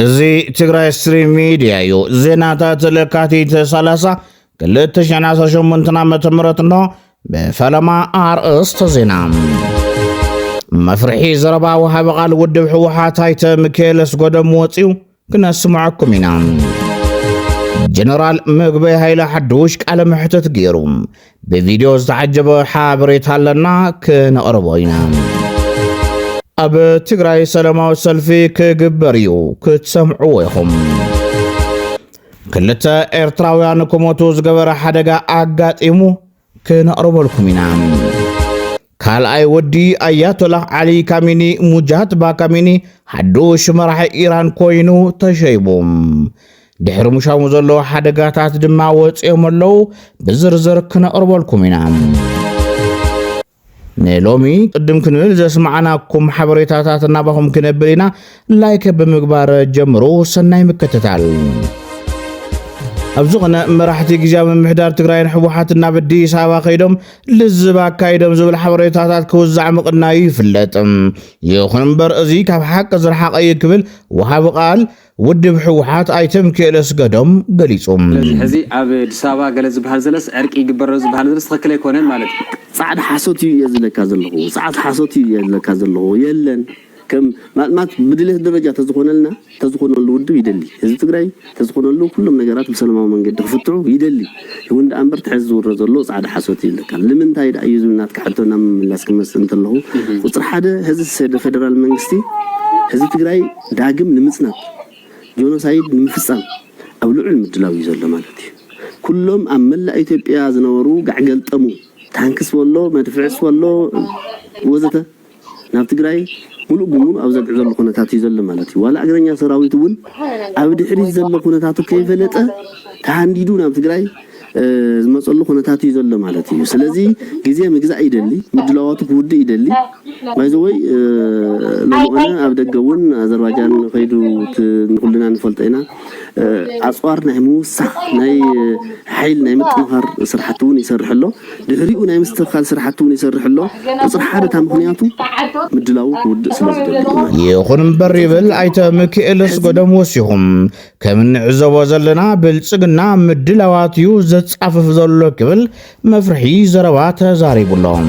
እዚ ትግራይ ስትሪም ሚድያ እዩ። ዜናታት ለካቲት 30 2018 ዓ ም እንሆ ብፈለማ ኣርእስተ ዜና መፍርሒ ዘረባ ወሃቢ ቃል ውድብ ህወሓት ኣይተ ሚካኤል ኣስጎዶም ወፂኡ ክነስምዐኩም ኢና። ጀነራል ምግበይ ሃይለ ሓዱሽ ቃለ መሕትት ገይሩ ብቪድዮ ዝተዓጀበ ሓበሬታ ኣለና ክነቕርቦ ኢና። ኣብ ትግራይ ሰላማዊ ሰልፊ ክግበር እዩ ክትሰምዕዎ ኢኹም። ክልተ ኤርትራውያን ክሞቱ ዝገበረ ሓደጋ ኣጋጢሙ ክነቕርበልኩም ኢና። ካልኣይ ወዲ ኣያቶላህ ዓሊ ካሚኒ ሙጃትባ ካሚኒ ሓዱሽ መራሒ ኢራን ኮይኑ ተሸይቡ። ድሕሪ ሙሻሙ ዘሎ ሓደጋታት ድማ ወፂኦም ኣለዉ። ብዝርዝር ክነቕርበልኩም ኢና። ንሎሚ ቅድም ክንብል ዘስማዕናኩም ሓበሬታታት ናባኹም ክነብል ኢና። ላይክ ብምግባር ጀምሩ። ሰናይ ምክትታል። ኣብ ዝኾነ መራሕቲ ግዜያዊ ምምሕዳር ትግራይን ሕወሓትን ናብ ኣዲስ ኣበባ ከይዶም ልዝብ ኣካይዶም ዝብል ሓበሬታታት ክውዛዕ ምቕናዩ ይፍለጥ። ይኹን እምበር እዚ ካብ ሓቂ ዝረሓቐ እዩ ክብል ወሃቢ ቃል ውድብ ህወሓት ኣይተ ምኪኤል እስገዶም ገሊፁ። ስለዚ ሕዚ ኣብ ኣዲስ ኣበባ ገለ ዝብሃል ዘለስ ዕርቂ ይግበር ኣሎ ዝብሃል ዘለስ ትኽክል ኣይኮነን ማለት እዩ። ጻዕዳ ሓሶት እዩ እየ ዝብለካ ዘለኹ ጻዕት ሓሶት እዩ እየ ዝብለካ ዘለኹ የለን ከም ማልማት ብድሌት ደረጃ ተዝኾነልና ተዝኾነሉ ውድብ ይደሊ ህዝቢ ትግራይ ተዝኾነሉ ኩሎም ነገራት ብሰለማዊ መንገዲ ክፍትዑ ይደሊ ይኹን ደኣ እምበር ትሕዚ ዝውረ ዘሎ ጻዕዳ ሓሶት እዩ ይብለካ ልምንታይ ደኣ እዩ ዝብል ናትካ ሕቶ ናብ ምምላስ ክመጽእ እንተለኹ ቁጽሪ ሓደ ህዚ ፌደራል መንግስቲ ህዝቢ ትግራይ ዳግም ንምፅናት፣ ጆኖሳይድ ንምፍፃም ኣብ ልዑል ምድላው እዩ ዘሎ ማለት እዩ። ኩሎም ኣብ መላእ ኢትዮጵያ ዝነበሩ ጋዕገልጠሙ ታንክስ በሎ መድፍዕስ በሎ ወዘተ ናብ ትግራይ ሙሉእ ብሙሉእ ኣብ ዘግዕዘሉ ኩነታት እዩ ዘሎ ማለት እዩ። ዋላ እግረኛ ሰራዊት እውን ኣብ ድሕሪት ዘሎ ኩነታቱ ከይፈለጠ ተሃንዲዱ ናብ ትግራይ ዝመጸሉ ኩነታት እዩ ዘሎ ማለት እዩ። ስለዚ ግዜ ምግዛእ ይደሊ፣ ምድላዋቱ ክውድእ ይደሊ። ባይዘወይ ሎሚ ኾነ ኣብ ደገ እውን ኣዘርባጃን ከይዱ ንኩልና ንፈልጦ ኢና ኣጽዋር ናይ ምውሳኽ ናይ ሓይል ናይ ምጥንኻር ስራሕቲ እውን ይሰርሕ ኣሎ። ድሕሪኡ ናይ ምስትኽካል ስራሕቲ እውን ይሰርሕ ኣሎ። ቁፅሪ ሓደ እታ ምክንያቱ ምድላዉ ክውድእ ስለ ዝደሊ ይኹን እምበር ይብል ኣይተ ምክኤል ኣስገዶም ወሲኹ። ከም እንዕዘቦ ዘለና ብልጽግና ምድላዋት እዩ ዘጻፍፍ ዘሎ ክብል መፍርሒ ዘረባ ተዛሪቡ ኣሎ።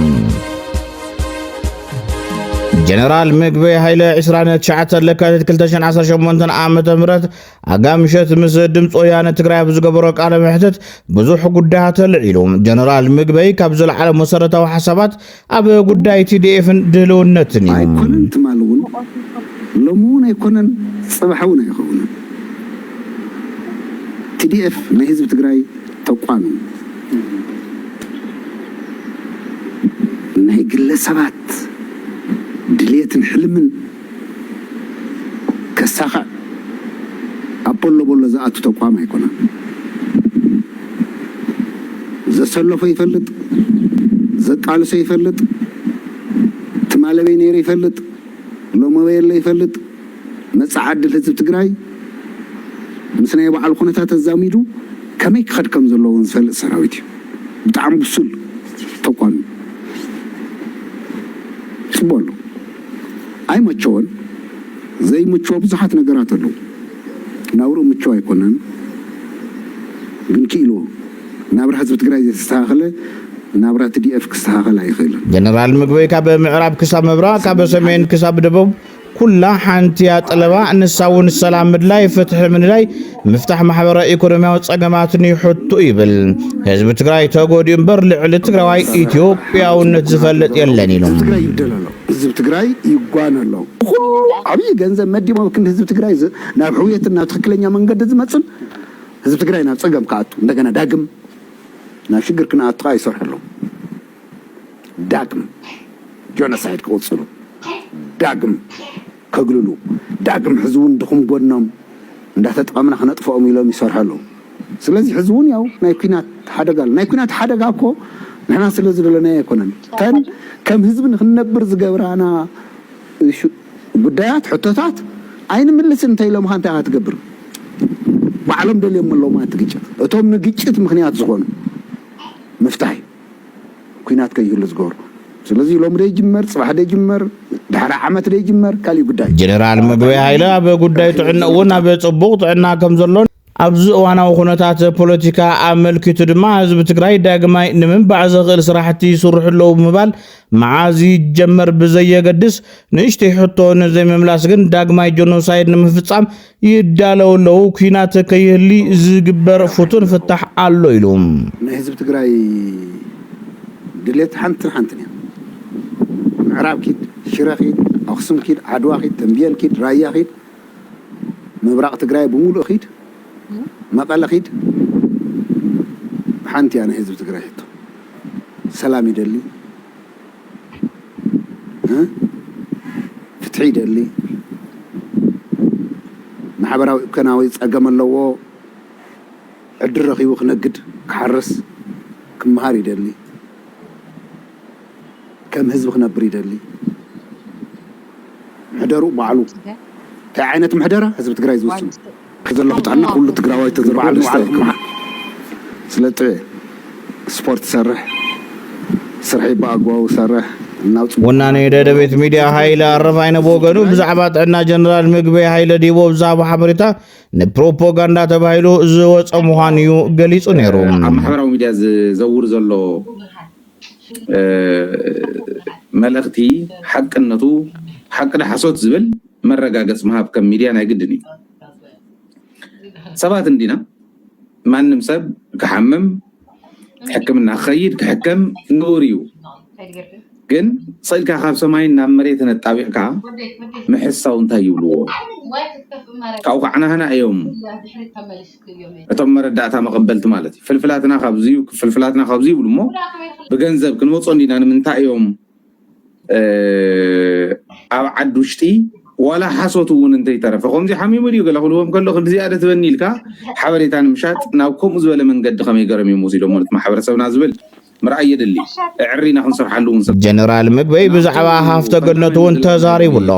ጀነራል ምግበ ሃይለ 29 ለካቲት 2018 ዓ ም ኣጋምሸት ምስ ድምፂ ወያነ ትግራይ ኣብ ዝገበሮ ቃለ መሕትት ብዙሕ ጉዳያት ኣልዒሉ ጀነራል ምግበይ ካብ ዘለዓለ መሰረታዊ ሓሳባት ኣብ ጉዳይ ቲዲኤፍን ድህልውነትን እዩ። ኣይኮነን ትማል እውን ሎሚ እውን ኣይኮነን ፅባሕ እውን ኣይኸውንን TDF ናይ ህዝቢ ትግራይ ተቋም እዩ ናይ ግለሰባት ድልየትን ሕልምን ከሳኽዕ ኣብ ቦሎ ቦሎ ዝኣቱ ተቋም ኣይኮነን። ዘሰለፎ ይፈልጥ፣ ዘቃልሶ ይፈልጥ፣ ትማል ኣበይ ነይሩ ይፈልጥ፣ ሎሚ ኣበይ ኣሎ ይፈልጥ፣ መጻኢ ዕድል ህዝቢ ትግራይ ምስ ናይ ባዕሉ ኩነታት ኣዛሚዱ ከመይ ክኸድ ከም ዘለዎ እውን ዝፈልጥ ሰራዊት እዩ። ብጣዕሚ ብሱል ተቋም እዩ። ጽቡቕ ኣሎ። ኣይመቸወን ዘይምችዎ ብዙሓት ነገራት ኣለው ናብርኡ ምችው ኣይኮነን ግን ክኢልዎ ናብራ ህዝቢ ትግራይ ዘይተስተኻኸለ ናብራ ትዲኤፍ ክስተኻኸል ኣይኽእልን። ጀነራል ምግበይ ካብ ምዕራብ ክሳብ ምብራቕ ካብ ሰሜን ክሳብ ደቡብ ኩላ ሓንቲያ ጠለባ ንሳ እውን ሰላም ምድላይ ፍትሒ ምንዳይ ምፍታሕ ማሕበራዊ ኢኮኖሚያዊ ጸገማትን ይሕቱ ይብል። ህዝቢ ትግራይ ተጎዲኡ እምበር ልዕሊ ትግራዋይ ኢትዮጵያውነት ዝፈልጥ የለን ኢሉ። ህዝቢ ትግራይ ይብደል ኣሎ፣ ህዝቢ ትግራይ ይጓነ ኣሎ፣ ንኹሉ ዓብዪ ገንዘብ መዲቦም ኣብ ክንዲ ህዝቢ ትግራይ ናብ ሕውየትን ናብ ትኽክለኛ መንገዲ ዝመፅን ህዝቢ ትግራይ ናብ ፀገም ክኣቱ እንደገና ዳግም ናብ ሽግር ክንኣቱ ከዓ ይሰርሑ ኣለዉ። ዳግም ጆኖሳይድ ክቕፅሉ ዳግም ከግልሉ ዳግም ሕዚ ውን ድኹም ጎድኖም እንዳተጠቐምና ክነጥፈኦም ኢሎም ይሰርሑ ኣለው ስለዚ ሕዚ ውን ያው ናይ ኩናት ሓደጋ ኣሎ ናይ ኩናት ሓደጋ እኮ ንሕና ስለ ዝደለናዮ ኣይኮነን እተን ከም ህዝቢ ንክንነብር ዝገብራና ጉዳያት ሕቶታት ኣይንምልስን እንተኢሎምኻ እንታይ ኢኻ ትገብር ባዕሎም ደልዮሞ ኣለውማ እቲ ግጭት እቶም ንግጭት ምኽንያት ዝኾኑ ምፍታህ እዩ። ኩናት ከይህሉ ዝገብሩ ስለዚ ሎሚ ዶ ይጅመር ጽባሕ ዶ ይጅመር ድሕሪ ዓመት ዶ ይጅመር ካሊእ ጉዳይ እዩ። ጀነራል ምግበይ ሃይለ ኣብ ጉዳይ ጥዕንኡ እውን ኣብ ጽቡቕ ጥዕና ከም ዘሎን ኣብዚ እዋናዊ ኩነታት ፖለቲካ ኣመልኪቱ ድማ ህዝቢ ትግራይ ዳግማይ ንምንባዕ ዘኽእል ስራሕቲ ይስርሑ ኣለዉ ብምባል መዓዝ ይጀመር ብዘየገድስ ንእሽተይ ሕቶ ንዘይምምላስ ግን ዳግማይ ጆኖሳይድ ንምፍጻም ይዳለው ኣለው፣ ኲናት ከይህሊ ዝግበር ፍቱን ፍታሕ ኣሎ ኢሉ። ናይ ህዝቢ ትግራይ ድሌት ሓንትን ሓንትን እያ። ምዕራብ ኪድ፣ ሽረ ኪድ፣ ኣኽሱም ኪድ፣ ዓድዋ ኪድ፣ ተምቤን ኪድ፣ ራያ ኪድ፣ ምብራቕ ትግራይ ብሙሉኡ ኪድ፣ መቐለ ኪድ ሓንቲ እያ ናይ ህዝቢ ትግራይ ሕቶ። ሰላም ይደሊ። ፍትሒ ይደሊ፣ ማሕበራዊ ኢኮናዊ ፀገም ኣለዎ፣ ዕድል ረኺቡ ክነግድ ክሓርስ ክመሃር ይደሊ፣ ከም ህዝቢ ክነብር ይደሊ፣ ምሕደርኡ ባዕሉ እንታይ ዓይነት ምሕደራ ህዝቢ ትግራይ ዝውስኖ። ከዘለኹ ጥዕና ኩሉ ትግራዋይ ተዘርኡ ደስታ እዩ ክብሉ ስለጥበ ስፖርት ሰርሕ ስርሐይ ብኣግባቡ ሰርሕ ወናኒ ደደቤት ሚድያ ሃይለ ኣረፋይነ ብወገኑ ብዛዕባ ጥዕና ጀነራል ምግበይ ሃይለ ዲቦ ብዛዕባ ሓበሬታ ንፕሮፓጋንዳ ተባሂሉ ዝወፀ ምዃኑ እዩ ገሊፁ ነይሩ ኣብ ማሕበራዊ ሚድያ ዝዘውር ዘሎ መልእኽቲ ሓቅነቱ ሓቂ ዶ ሓሶት ዝብል መረጋገፅ ምሃብ ከም ሚድያ ናይ ግድን እዩ። ሰባት እንዲና ማንም ሰብ ክሓምም ሕክምና ክኸይድ ክሕከም ንቡር እዩ። ግን ስእልካ ካብ ሰማይ ናብ መሬት ነጣቢቕካ ምሕሳው እንታይ ይብልዎ ካብኡ ከዓናህና እዮም እቶም መረዳእታ መቐበልቲ ማለት እዩ ፍልፍላትና ካብዚ ፍልፍላትና ካብዚ ይብሉ እሞ ብገንዘብ ክንወፆ እንዲና ንምንታይ እዮም ኣብ ዓዲ ውሽጢ ዋላ ሓሶት እውን እንተይተረፈ ከምዚ ሓሚሙ ድዩ ገለ ክብልዎም ከሎ ክንዲ ዝያደ ትበኒ ኢልካ ሓበሬታ ንምሻጥ ናብ ከምኡ ዝበለ መንገዲ ከመይ ገረም እዮም ወሲዶሞ ነቲ ማሕበረሰብና ዝብል ምርኣይ የድሊ እዕሪና ክንሰርሓሉ እውን ሰብ ጀነራል ምግበይ ብዛዕባ ሃፍተ ገነቱ እውን ተዛሪቡ ኣሎ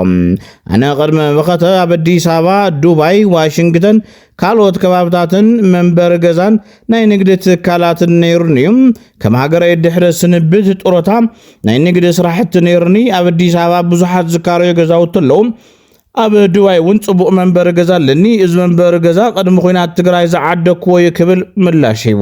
ኣነ ቅድሚ መኸተ ኣብ ኣዲስ ኣበባ ዱባይ ዋሽንግተን ካልኦት ከባብታትን መንበሪ ገዛን ናይ ንግዲ ትካላትን ነይሩኒ እዩ። ከም ሃገረይ ድሕሪ ስንብት ጥሮታ ናይ ንግዲ ስራሕቲ ነይሩኒ። ኣብ ኣዲስ ኣበባ ብዙሓት ዝካረዩ ገዛውቲ ኣለዉ። ኣብ ድባይ እውን ጽቡቕ መንበሪ ገዛ ኣለኒ። እዚ መንበሪ ገዛ ቅድሚ ኩናት ትግራይ ዝዓደግኩዎ እዩ ክብል ምላሽ ሂቡ።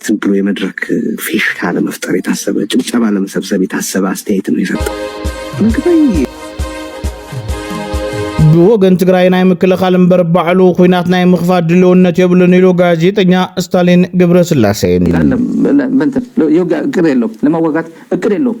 ዝም ብሎ የመድረክ ፊሽካ ለመፍጠር የታሰበ ጭብጨባ ለመሰብሰብ የታሰበ ኣስተያየት ነው የሰጠው ምግበይ ብወገን ትግራይ ናይ ምክልኻል እምበር ባዕሉ ኩናት ናይ ምኽፋት ድልውነት የብሉን ኢሉ ጋዜጠኛ ስታሊን ግብረስላሴ። መን የውግእ እቅድ የለውም፣ ለመዋጋት እቅድ የለውም።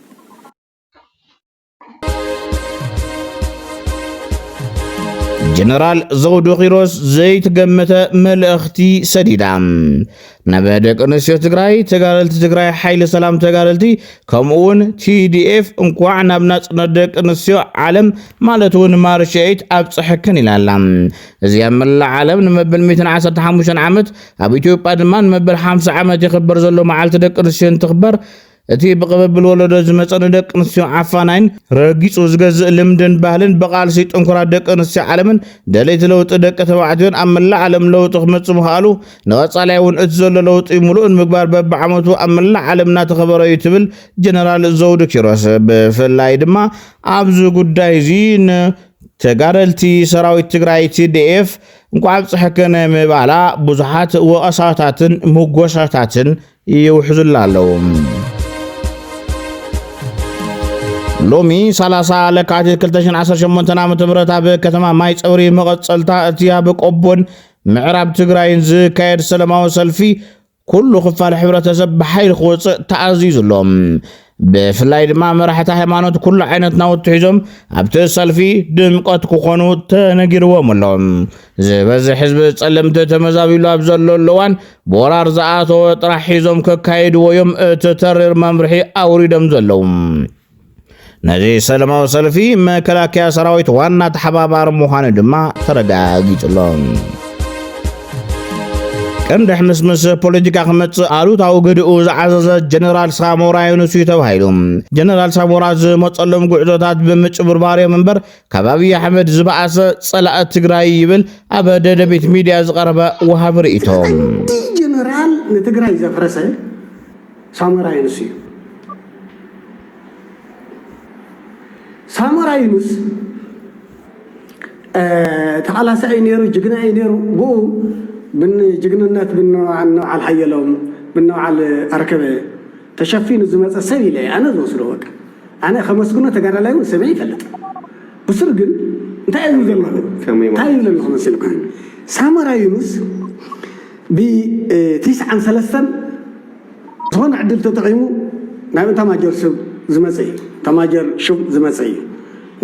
ጀነራል ዘውዱ ኪሮስ ዘይተገመተ መልእኽቲ ሰዲዳ ናብ ደቂ ኣንስትዮ ትግራይ ተጋደልቲ ትግራይ ሓይሊ ሰላም ተጋደልቲ ከምኡ እውን ቲዲኤፍ እንኳዕ ናብ ናፅነት ደቂ ኣንስትዮ ዓለም ማለት እውን ማርች ኤይት ኣብፀሐክን ኢላ ኣላ እዚ ኣብ መላእ ዓለም ንመበል 115 ዓመት ኣብ ኢትዮጵያ ድማ ንመበል 50 ዓመት ይኽበር ዘሎ መዓልቲ ደቂ ኣንስትዮ እንትኽበር እቲ ብቕብብል ወለዶ ዝመጸ ንደቂ ኣንስትዮ ዓፋናይን ረጊጹ ዝገዝእ ልምድን ባህልን ብቓልሲ ጥንኩራት ደቂ ኣንስትዮ ዓለምን ደለይቲ ለውጢ ደቂ ተባዕትዮን ኣብ መላእ ዓለም ለውጢ ክመጽእ ምኽኣሉ ንቐጻላይ እውን እቲ ዘሎ ለውጢ ምሉእ ንምግባር በብዓመቱ ኣብ መላእ ዓለም እናተኸበረ እዩ ትብል ጀነራል ዘውዱ ኪሮስ ብፍላይ ድማ ኣብዚ ጉዳይ እዚ ን ተጋደልቲ ሰራዊት ትግራይ ቲዲኤፍ እንኳዕ ኣብፀሐከነ ምባላ ብዙሓት ወቐሳታትን ምጎሻታትን ይውሕዙልና ኣለዉ። ሎሚ 30 ለካቲት 2018 ዓ ም ኣብ ከተማ ማይ ፀብሪ መቐፀልታ እቲ ኣብ ቆቦን ምዕራብ ትግራይን ዝካየድ ሰለማዊ ሰልፊ ኩሉ ክፋል ሕብረተሰብ ብሓይሊ ክወፅእ ተኣዚዙ ኣሎ። ብፍላይ ድማ መራሕቲ ሃይማኖት ኩሉ ዓይነት ናውቲ ሒዞም ኣብቲ ሰልፊ ድምቀት ክኾኑ ተነጊርዎም ኣሎ። ዝበዝሕ ህዝቢ ጸለምቲ ተመዛቢሉ ኣብ ዘለሉ እዋን ብወራር ዝኣተወ ጥራሕ ሒዞም ከካይድዎ እዮም እቲ ተሪር መምርሒ ኣውሪዶም ዘለዉ። ነዚ ሰለማዊ ሰልፊ መከላከያ ሰራዊት ዋና ተሓባባሪ ምዃኑ ድማ ተረጋጊጹ ኣሎ። ቀንዲ ሕምስምስ ፖለቲካ ክመጽእ ኣሉታዊ ግድኡ ዝዓዘዘ ጀነራል ሳሞራ ዩኑስ እዩ ተባሂሉ ጀነራል ሳሞራ ዝመጸሎም ጉዕዞታት ብምጭብርባር እዮም እምበር ካብ ኣብዪ ኣሕመድ ዝበኣሰ ጸላእ ትግራይ ይብል ኣብ ደደቢት ሚድያ ዝቐረበ ወሃቢ ርእይቶ ጀነራል ንትግራይ ዘፍረሰ ሳሞራ ዩኑስ እዩ ሳሞራ ዩኑስ ተቓላሳይ እዩ ነይሩ፣ ጅግና እዩ ነይሩ። ብኡ ብጅግንነት ብንበዓል ሓየሎም ብንበዓል ኣርከበ ተሸፊኑ ዝመፀ ሰብ ኢለ ኣነ ዝወስዶ በቃ ኣነ ከመስግኖ ተጋዳላይ እውን ሰሚዐ ይፈልጥ ብሱር ግን እንታይ እዩ ዘሎ እንታይ ይብለ ኣለኹ መሲልካ ሳሞራ ዩኑስ ብቲስዓን ሰለስተን ዝኾነ ዕድል ተጠቒሙ ናብ እታማጆር ስብ ዝመፀ እዩ እታማጆር ሹም ዝመፀ እዩ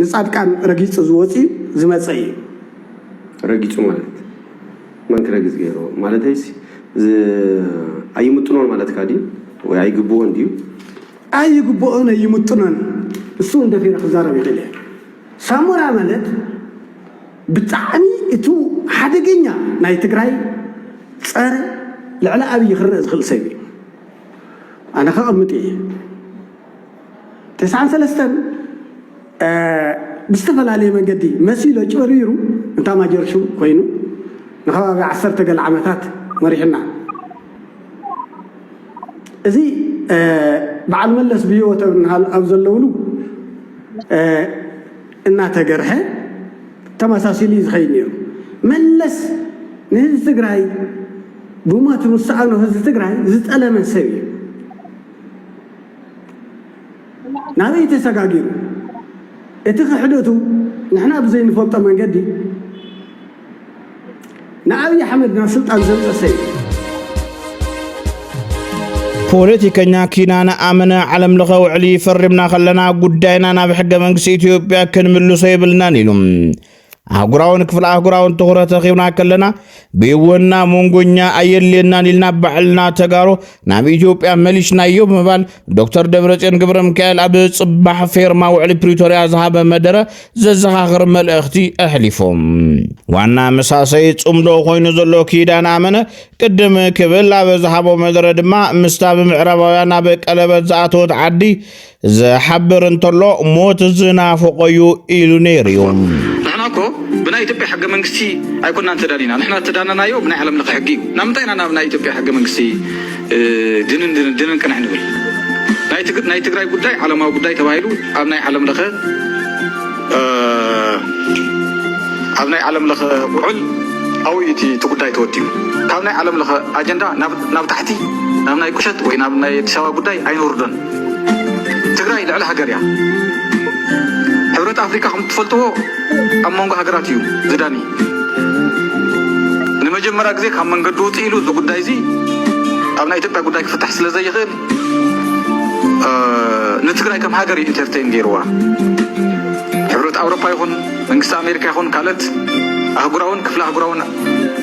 ንፃድቃን ረጊፁ ዝወፅዩ ዝመፀ እዩ። ረጊፁ ማለት መን ክረግፅ ገይርዎ ማለተይስ ኣይምጥኖን ማለትካ ድዩ ወይ ኣይግብኦን ድዩ? ኣይግብኦን ኣይምጥኖን ንሱ እውን ደፊረ ክዛረብ ይኽእል እየ ሳሞራ ማለት ብጣዕሚ እቱ ሓደገኛ ናይ ትግራይ ፀረ ልዕሊ ኣብይ ክረእ ዝክእል ሰብ እዩ ኣነ ከቀምጥ እየ ተስዓን ሰለስተን ብዝተፈላለየ መንገዲ መሲሉ ኣጭበርቢሩ እንታ ማጀርሹ ኮይኑ ንከባቢ ዓሰርተ ገለ ዓመታት መሪሕና እዚ በዓል መለስ ብሂወት ኣብ ዘለውሉ እናተገርሐ ተመሳሲሉ እዩ ዝኸይድ ነይሩ። መለስ ንህዝቢ ትግራይ ብሞት ምስ ሰኣኖ ህዝቢ ትግራይ ዝጠለመ ሰብ እዩ። ናበይ ተሰጋጊሩ? እቲ ክሕደቱ ንሕና ብዘይንፈልጦ መንገዲ ንኣብይ ኣሕመድ ናብ ስልጣን ዘምፀ ሰዩ ፖለቲከኛ ኪናነ ኣመነ ዓለም ለኸ ውዕሊ ፈሪምና ከለና ጉዳይና ናብ ሕገ መንግስቲ ኢትዮጵያ ክንምልሶ የብልናን ኢሉ ኣህጉራውን ክፍለ ኣህጉራውን ትኹረት ረኺብና ከለና ብይወና መንጎኛ ኣየድልየናን ኢልና ባዕልና ተጋሩ ናብ ኢትዮጵያ መሊሽናዮ ብምባል ዶክተር ደብረጽዮን ገብረ ሚካኤል ኣብ ጽባሕ ፌርማ ውዕሊ ፕሪቶርያ ዝሃበ መደረ ዘዘኻኽር መልእኽቲ ኣሕሊፎም ዋና መሳሰይ ጽምዶ ኮይኑ ዘሎ ኪዳን ኣመነ ቅድም ክብል ኣብ ዝሃቦ መደረ ድማ ምስታ ብምዕራባውያን ኣብ ቀለበት ዝኣተወት ዓዲ ዝሓብር እንተሎ ሞት ዝናፍቆዩ ኢሉ ነይሩ እዩ። ንሕና እኮ ብናይ ኢትዮጵያ ሕገ መንግስቲ ኣይኮናን ተዳሊና ንሕና ዝተዳነናዮ ብናይ ዓለም ለኸ ሕጊ እዩ ናብ ምንታይ ኢና ናብ ናይ ኢትዮጵያ ሕገ መንግስቲ ድንን ድንን ድንን ቅንሕ ንብል ናይ ትግራይ ጉዳይ ዓለማዊ ጉዳይ ተባሂሉ ኣብ ናይ ዓለም ለኸ ኣብ ናይ ዓለም ለኸ ውዕል ኣብኡ እቲ እቲ ጉዳይ ተወዲኡ ካብ ናይ ዓለም ለኸ ኣጀንዳ ናብ ታሕቲ ናብ ናይ ቁሸት ወይ ናብ ናይ ኣዲስ ኣበባ ጉዳይ ኣይንወርዶን ትግራይ ልዕሊ ሃገር እያ። ሕብረት ኣፍሪካ ከም እትፈልጥዎ ኣብ መንጎ ሃገራት እዩ ዝዳኒ። ንመጀመሪያ ግዜ ካብ መንገዲ ውፅእ ኢሉ እዚ ጉዳይ እዚ ኣብ ናይ ኢትዮጵያ ጉዳይ ክፍታሕ ስለ ዘይኽእል ንትግራይ ከም ሃገር እዩ ኢንተርቴን ገይርዋ። ሕብረት ኣውሮፓ ይኹን መንግስቲ ኣሜሪካ ይኹን ካልኦት ኣህጉራውን ክፍለ ኣህጉራውን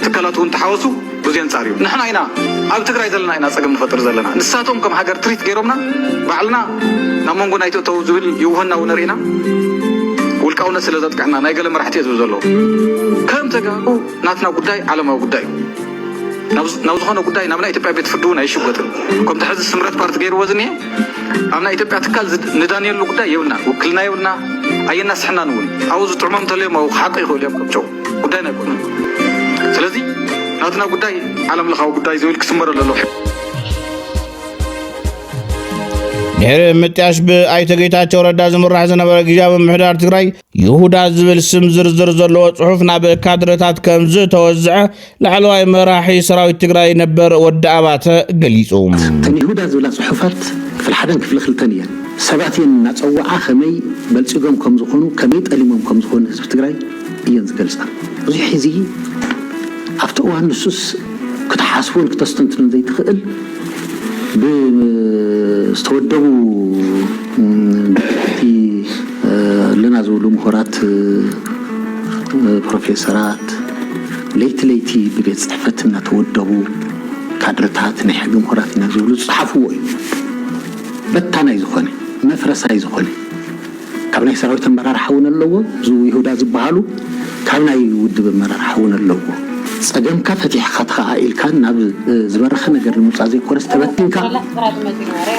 ትካላት እውን ተሓወሱ ብዙይ ኣንጻር እዩ ንሕና ኢና ኣብ ትግራይ ዘለና ኢና ጸገም ንፈጥር ዘለና ንሳቶም ከም ሃገር ትሪት ገይሮምና ባዕልና ናብ መንጎ ናይ ተእተው ዝብል ይውህና እውን ርኢና ውልቃውነት ስለ ዘጥቅዕና ናይ ገለ መራሕቲ እየ ዝብል ዘለዉ ከም ተጋሩ ናትና ጉዳይ ዓለማዊ ጉዳይ እዩ ናብ ናብ ዝኾነ ጉዳይ ናብ ናይ ኢትዮጵያ ቤት ፍርዲ እውን ኣይሽጎጥን ከምቲ ሕዚ ስምረት ፓርቲ ገይርዎ ዝኒሀ ኣብ ናይ ኢትዮጵያ ትካል ዝድ- ንዳንየሉ ጉዳይ የብልና ውክልና የብልና ኣየናስሕናን እውን ኣብኡ ዝጥዕሞም እንተለዮም ኣብኡ ክሓቁ ይኽእሉ እዮም ከምጨው ጉዳይ ናይ ኩልና እዩ። ስለዚ ናትና ጉዳይ ዓለም ለኻዊ ጉዳይ ዝብል ክስመረ ኣለዎ። ድሕሪ ምጥያሽ ብኣይተ ጌታቸው ረዳ ዝምራሕ ዝነበረ ግዜያዊ ምሕዳር ትግራይ ይሁዳ ዝብል ስም ዝርዝር ዘለዎ ጽሑፍ ናብ ካድረታት ከም ዝተወዝዐ ላዕለዋይ መራሒ ሰራዊት ትግራይ ነበር ወዲ ኣባተ ገሊፁ። እተን ይሁዳ ዝብላ ጽሑፋት ክፍሊ ሓደን ክፍሊ ክልተን እየን። ሰባት እየን እናጸወዓ ከመይ በልጺጎም ከም ዝኾኑ ከመይ ጠሊሞም ከም ዝኾኑ ህዝቢ ትግራይ እየን ዝገልጻ። እዚ ሕዚ ኣብቲ እዋን ንሱስ ክትሓስቦን ክተስተንትኖን ዘይትኽእል ብዝተወደቡ ብሕቲ ኣለና ዝብሉ ምሁራት ፕሮፌሰራት፣ ለይቲ ለይቲ ብቤት ፅሕፈት እናተወደቡ ካድረታት ናይ ሕጊ ምሁራት ኢና ዝብሉ ዝፀሓፍዎ እዩ። በታናይ ዝኾነ መፍረሳይ ዝኾነ ካብ ናይ ሰራዊት ኣመራርሓ እውን ኣለዎ ዝው ይሁዳ ዝበሃሉ ካብ ናይ ውድብ ኣመራርሓ እውን ኣለዎ። ፀገምካ ፈቲሕኻ ተኸኣኢልካ ናብ ዝበረኸ ነገር ንምውፃእ ዘይኮነስ ተበቲንካ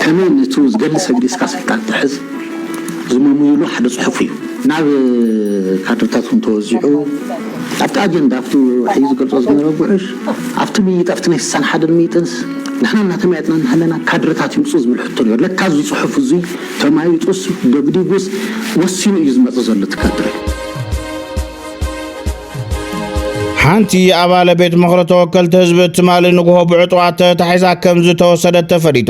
ከመይ ንቱ ዝገድሊ ሰግዲስካ ስልጣን ትሕዝ ዝመሙዩሉ ሓደ ጽሑፍ እዩ። ናብ ካድርታትኩም ተወዚዑ ኣብቲ ኣጀንዳ ኣብቲ ሕዩ ዝገልጾ ዝነበረ ጉዕሽ ኣብቲ ምይይጥ ኣብቲ ናይ ስሳን ሓደን ምይጥንስ ንሕና እናተመያየጥና እናሃለና ካድርታት ይምጹ ዝብል ሕቶ ነይሩ። ለካ እዚ ጽሑፍ እዙይ ተማይጡስ ደግዲጉስ ወሲኑ እዩ ዝመጽእ ዘሎ እቲ ካድረ። ሓንቲ ኣባለ ቤት ምኽሪ ተወከልቲ ህዝቢ ትማሊ ንግሆ ብዕጡቓት ተታሒዛ ከም ዝተወሰደት ተፈሊጡ።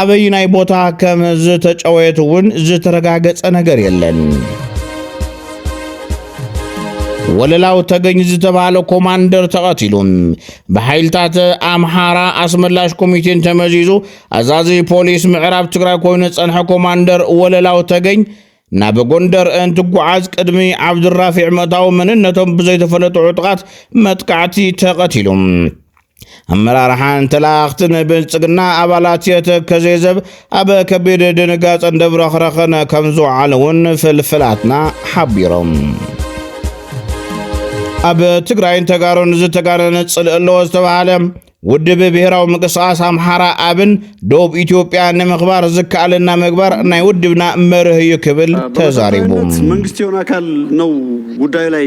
ኣበዩናይ ቦታ ከም ዝተጨወየት እውን ዝተረጋገጸ ነገር የለን። ወለላው ተገኝ ዝተባህለ ኮማንደር ተቐቲሉ ብሓይልታት ኣምሓራ ኣስመላሽ ኮሚቴን ተመዚዙ ኣዛዚ ፖሊስ ምዕራብ ትግራይ ኮይኑ ጸንሐ ኮማንደር ወለላው ተገኝ ናብ ጎንደር እንትጓዓዝ ቅድሚ ዓብዱራፊዕ መእታዊ መንነቶም ብዘይተፈለጡ ዕጡቓት መጥቃዕቲ ተቐቲሉ ኣመራርሓን ተለኣኽትን ብልጽግና ኣባላት የተከዜ ዘብ ኣብ ከቢድ ድንጋጸን ደብረኽረኽን ከም ዝውዓለ እውን ፍልፍላትና ሓቢሮም ኣብ ትግራይን ተጋሩን ዝተጋነነ ጽልእ ኣለዎ ዝተባሃለ ውድብ ብሔራዊ ምንቅስቓስ ኣምሓራ ኣብን ደቡብ ኢትዮጵያ ንምኽባር ዝከኣለና ምግባር ናይ ውድብና መርህ እዩ ክብል ተዛሪቡ መንግስት የሆነ ኣካል ነው ጉዳዩ ላይ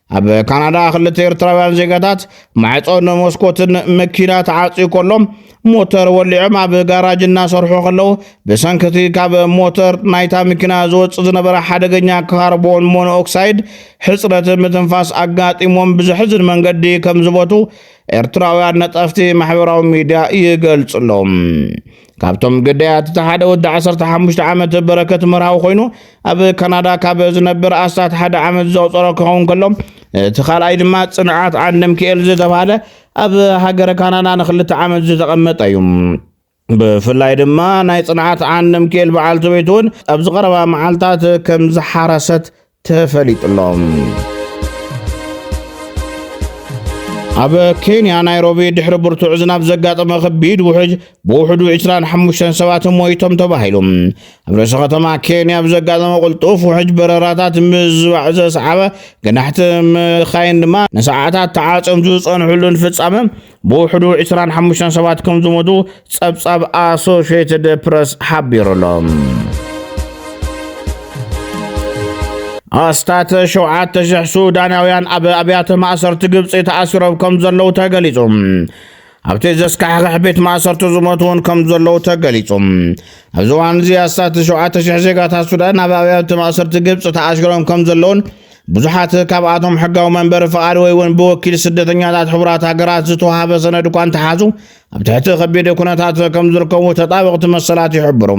ኣብ ካናዳ ክልተ ኤርትራውያን ዜጋታት ማዕፆን መስኮትን መኪና ተዓፅዩ ከሎ ሞተር ወሊዖም ኣብ ጋራጅ እናሰርሑ ከለዉ ብሰንክቲ ካብ ሞተር ናይታ መኪና ዝወፅእ ዝነበረ ሓደገኛ ካርቦን ሞኖኦክሳይድ ሕፅረት ምትንፋስ ኣጋጢሞም ብዘሕዝን መንገዲ ከም ዝበቱ ኤርትራውያን ነጠፍቲ ማሕበራዊ ሚድያ ይገልፁ ኣለዉ። ካብቶም ግዳያት እቲ ሓደ ወዲ 15 ዓመት በረከት መርሃዊ ኮይኑ ኣብ ካናዳ ካብ ዝነብር ኣስታት ሓደ ዓመት ዘቑፀሮ ክኸውን ከሎ እቲ ካልኣይ ድማ ፅንዓት ዓንደምክኤል ዝተባሃለ ኣብ ሃገረ ካናዳ ንክልተ ዓመት ዝተቐመጠ እዩ። ብፍላይ ድማ ናይ ፅንዓት ዓንደምክኤል በዓልቲ ቤት እውን ኣብዚ ቀረባ መዓልታት ከም ዝሓረሰት ተፈሊጡሎም። ኣብ ኬንያ ናይሮቢ ድሕሪ ብርቱዕ ዝናብ ዘጋጠመ ከቢድ ውሕጅ ብውሕዱ 25 ሰባት ሞይቶም ተባሂሉ ኣብ ርእሲ ከተማ ኬንያ ብዘጋጠመ ቁልጡፍ ውሕጅ በረራታት ምዝባዕ ዘስዓበ ገናሕቲ መካይን ድማ ንሰዓታት ተዓፅዮም ዝፀንሕሉን ፍፃመ ብውሕዱ ዕስራን ሓሙሽተን ሰባት ከም ዝሞቱ ጸብጻብ ኣሶሽትድ ፕረስ ሓቢሩ ኣሎ። ኣስታት ሸውዓተ ሽሕ ሱዳናውያን ኣብ ኣብያተ ማእሰርቲ ግብፂ ተኣሲሮም ከም ዘለዉ ተገሊጹ ኣብቲ ዘስካሕኽሕ ቤት ማእሰርቲ ዝሞቱ እውን ከም ዘለዉ ተገሊጹ ኣብዚ እዋን እዚ ኣስታት ሸውዓተ ሽሕ ዜጋታት ሱዳን ኣብ ኣብያተ ማእሰርቲ ግብፂ ተኣሲሮም ከም ዘለዉን ብዙሓት ካብኣቶም ሕጋዊ መንበሪ ፍቓድ ወይ እውን ብወኪል ስደተኛታት ሕቡራት ሃገራት ዝተዋሃበ ሰነድ እኳ እንተሓዙ ኣብ ትሕቲ ከቢድ ኩነታት ከም ዝርከቡ ተጣበቕቲ መሰላት ይሕብሩ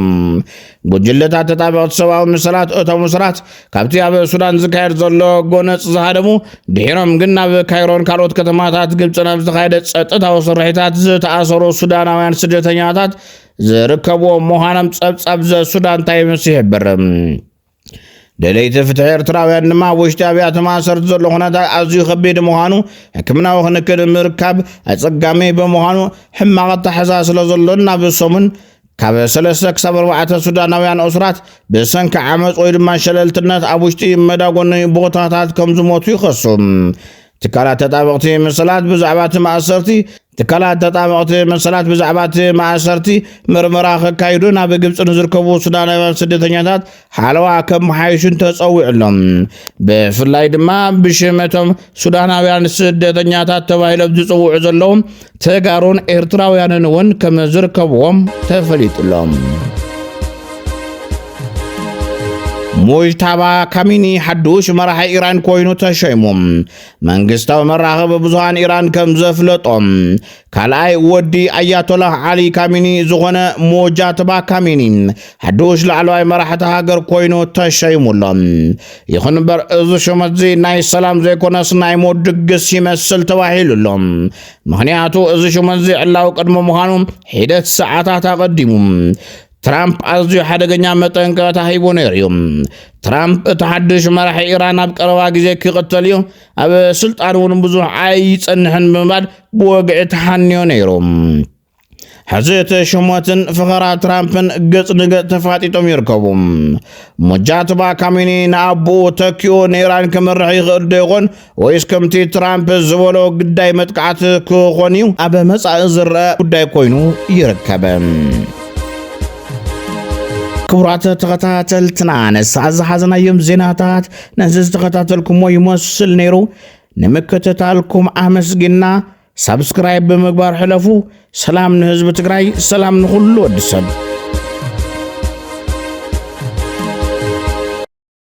ጉጅለታት ተጣበቕቲ ሰብኣዊ መሰላት እቶም እሱራት ካብቲ ኣብ ሱዳን ዝካየድ ዘሎ ጎነፅ ዝሃደሙ ድሒሮም ግን ናብ ካይሮን ካልኦት ከተማታት ግብፅን ኣብ ዝተኻየደ ፀጥታዊ ስርሒታት ዝተኣሰሩ ሱዳናውያን ስደተኛታት ዝርከብዎም ምዃኖም ፀብፃብ ዘሱዳን ታይምስ ይሕብር ደለይቲ ፍትሒ ኤርትራውያን ድማ ኣብ ውሽጢ ኣብያተ ማእሰርቲ ዘሎ ኩነታት ኣዝዩ ከቢድ ምዃኑ ሕክምናዊ ክንክን ምርካብ ኣጸጋሚ ብምዃኑ ሕማቕ ኣተሓዛ ስለ ዘሎን ናብ ሰሙን ካብ ሰለስተ ክሳብ ኣርባዕተ ሱዳናውያን እሱራት ብሰንኪ ዓመፅ ወይ ድማ ሸለልትነት ኣብ ውሽጢ መዳጎኒ ቦታታት ከም ዝሞቱ ይኸሱ ትካላት ተጣበቕቲ መሰላት ብዛዕባ እቲ ማእሰርቲ ትካላት ተጣበቕቲ መሰላት ብዛዕባ እቲ ማእሰርቲ ምርመራ ከካይዱ ናብ ግብፂ ንዝርከቡ ሱዳናውያን ስደተኛታት ሓለዋ ከመሓይሹን ተፀዊዑ ኣሎ ብፍላይ ድማ ብሽመቶም ሱዳናውያን ስደተኛታት ተባሂሎም ዝፅውዑ ዘለዉ ተጋሩን ኤርትራውያንን እውን ከም ዝርከብዎም ተፈሊጡሎም ሙጅታባ ካሚኒ ሓዱሽ መራሒ ኢራን ኮይኑ ተሸይሙ መንግስታዊ መራኸቢ ብዙሃን ኢራን ከም ዘፍለጦም ካልኣይ ወዲ ኣያቶላህ ዓሊ ካሚኒ ዝኾነ ሙጃትባ ካሚኒ ሓዱሽ ላዕለዋይ መራሕቲ ሃገር ኮይኑ ተሸይሙ ኣሎ ይኹን እምበር እዚ ሹመት እዚ ናይ ሰላም ዘይኮነስ ናይ ሞት ድግስ ይመስል ተባሂሉ ኣሎ ምኽንያቱ እዚ ሹመዚ ዕላዊ ቅድሚ ምዃኑ ሒደት ሰዓታት ኣቐዲሙ ትራምፕ ኣዝዩ ሓደገኛ መጠንቀቕታ ሂቡ ነይሩ እዩ ትራምፕ እቲ ሓድሽ መራሒ ኢራን ኣብ ቀረባ ግዜ ክቕተል እዩ ኣብ ስልጣን እውን ብዙሕ ኣይጸንሕን ብምባል ብወግዒ ተሓንዮ ነይሩ ሕዚ እቲ ሽሞትን ፈኸራ ትራምፕን ገጽ ንገጽ ተፋጢጦም ይርከቡ ሙጃትባ ካሚኒ ንኣቦኡ ተኪኡ ንኢራን ክምርሕ ይኽእል ዶ ይኾን ወይስ ከምቲ ትራምፕ ዝበሎ ግዳይ መጥቃዕቲ ክኾን እዩ ኣብ መጻኢ ዝረአ ጉዳይ ኮይኑ ይርከብ ክቡራት ተኸታተልትና ንሰዓት ዝሓዘናዮም ዜናታት ነዚ ዝተኸታተልኩሞ ይመስል ነይሩ ንምክትታልኩም ኣመስጊና ሳብስክራይብ ብምግባር ሕለፉ። ሰላም ንህዝቢ ትግራይ፣ ሰላም ንኹሉ ወዲ ሰብ።